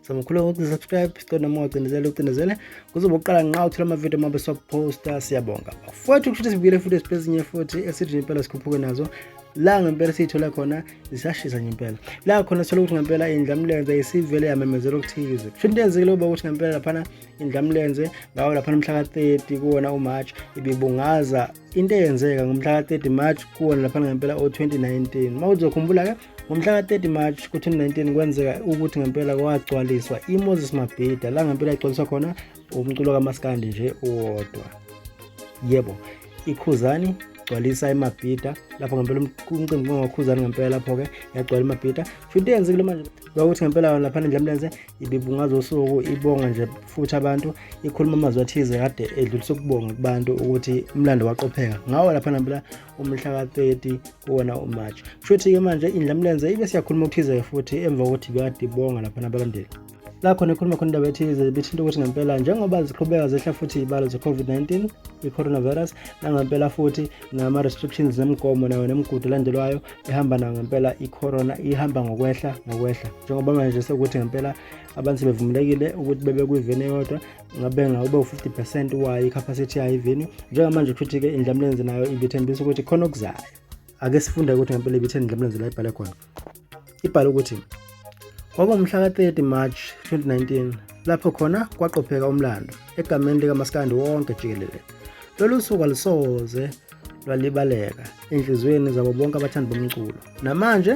so mkhulu ukusubscribe cela noma ucindezele ucindezele kuzobe uqala nqa uthola amavidiyo uma besophosta siyabonga futhi kushuthi sibuyele futhi esipezinye futhi esithi impela sikhuphuke nazo la ngempela siyithola khona zisashisa nje impela la khona sithola ukuthi ngempela indlamlenze isivele yamemezela okuthize kusho into yenzekile uba ukuthi ngempela laphana indlamlenze ngawo laphana umhla ka-30 kuwona umarch ibibungaza into eyenzeka ngomhla ka-30 march kuwona laphana ngempela o-2019 uma uzokhumbula-ke ngomhla ka-30 march ku-2019 kwenzeka ukuthi ngempela kwagcwaliswa imoses mabhida la ngempela igcwaliswa khona umculo kamaskandi nje uwodwa yebo ikhuzani gcwalisa imabhida lapho ngempela umcimbi kungakhuzani ngempela lapho-ke yagcwala imabhida futhi into eyenzekile manje kwakuthi ngempela laphana endlamlenze ibibungaza usuku ibonga nje futhi abantu ikhuluma amazwi athize kade edlulisa ukubonga kubantu ukuthi umlando waqopheka ngawo lapha nampela umhla ka-30 kuwona umarch kushuthi-ke manje indlamlenze ibe siyakhuluma okuthize futhi emva kokuthi bekade ibonga lapha nabalandeli lakho nekhuluma khona indaba ethize bithinta ukuthi ngempela njengoba ziqhubeka zehla futhi iy'balo ze-covid-19 i-coronavirus nangempela futhi nama-restrictions nemigomo nayo nemigudu elandelwayo ihamba nayo ngempela i-corona ihamba ngokwehla ngokwehla njengoba manje sekuthi ngempela abantu sebevumelekile ukuthi bebe kwiveni eyodwa ngabe ngawube u-50 percent wayo i-capacity yayo iveni njengamanje futhi-ke indlamlenzi nayo ibithembisa ukuthi khona okuzayo ake sifunde ukuthi ngempela ibitheni indlamlenzi la ibhale khona ibhale ukuthi kwakuwumhla ka-30 march 2019 lapho khona kwaqopheka umlando egameni likamaskandi wonke jikelele lolu suku alusoze lwalibaleka enhliziyweni zabo bonke abathandi bomculo namanje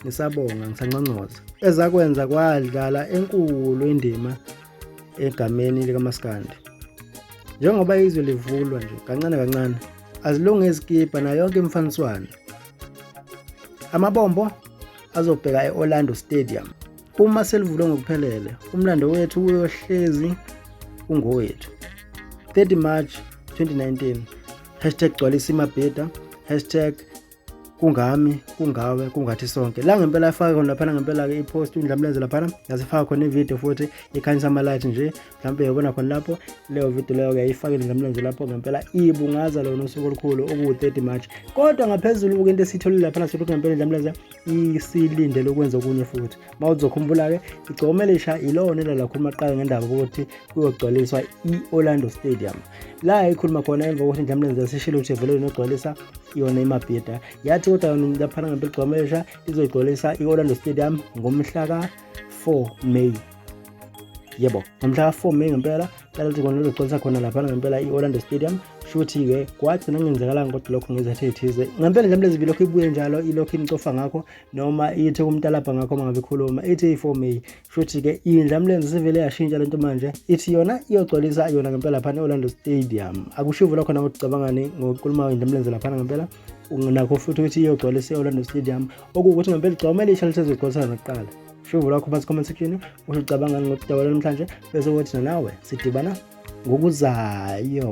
ngisabonga ngisanconcoza ezakwenza kwadlala enkulu indima egameni likamaskandi njengoba izwe livulwa nje kancane kancane azilunge izikibha nayo yonke imfaniswano amabombo azobheka e-orlando stadium Uma selivulwe ngokuphelele, umlando wethu uyohlezi ungowethu. 30 March 2019 hashtag gcwalisa imabheda hashtag kungami kungawe kungathi sonke la ngempela afake khona laphana ngempela-ke ipost undlamlenze laphana yasifaka khona ividiyo futhi ikhanyisa amalayithi nje mhlawumbe uyobona khona lapho leyo vidiyo leyo uyayifakile ndlamlenze lapho ngempela ibungaza lona usuku olukhulu okuwu-30 march kodwa ngaphezulu uke into esiyitholile laphana sithola ukuthi ngempela ndlamlenze isilindele ukwenza okunye futhi uma uzokhumbula-ke igcome lisha ilona elalakhuluma kuqala ngendaba ukuthi kuyogcwaliswa i-orlando stadium la ikhuluma khona emva kokuthi ndlamlenze yasishilo ukuthi vele inogcwalisa yona imabhida yathi kodwa yona laphana ngempela igcome lisha izoyigcwalisa i-orlando stadium ngomhla ka-4 may yebo ngomhla ka-4 may ngempela cela ukuthi kona lizogcwalisa khona laphana ngempela i-orlando stadium shuthi-ke kwathi nangenzakalanga kodwa lokho ngezathe ethize ngempela nje mlezi bilokhu ibuye njalo ilokhu imcofa ngakho noma ithe kumtalabha ngakho uma ngabe ikhuluma ithi i-4 may shuthi-ke indla mlenze sivele yashintsha lento manje ithi yona iyogcwalisa yona ngempela laphana e-orlando stadium akushivo lokho nakuthi cabangani ngokukhuluma indla mlenze laphana ngempela nakho futhi ukuthi iyogcwalisa e-orlando stadium okuwukuthi ngempela igcwamele isha lisezogcwalisana nakuqala Shuvo lakho phansi comment section usho ucabangani ngokudaba namhlanje bese wathi nawe sidibana ngokuzayo.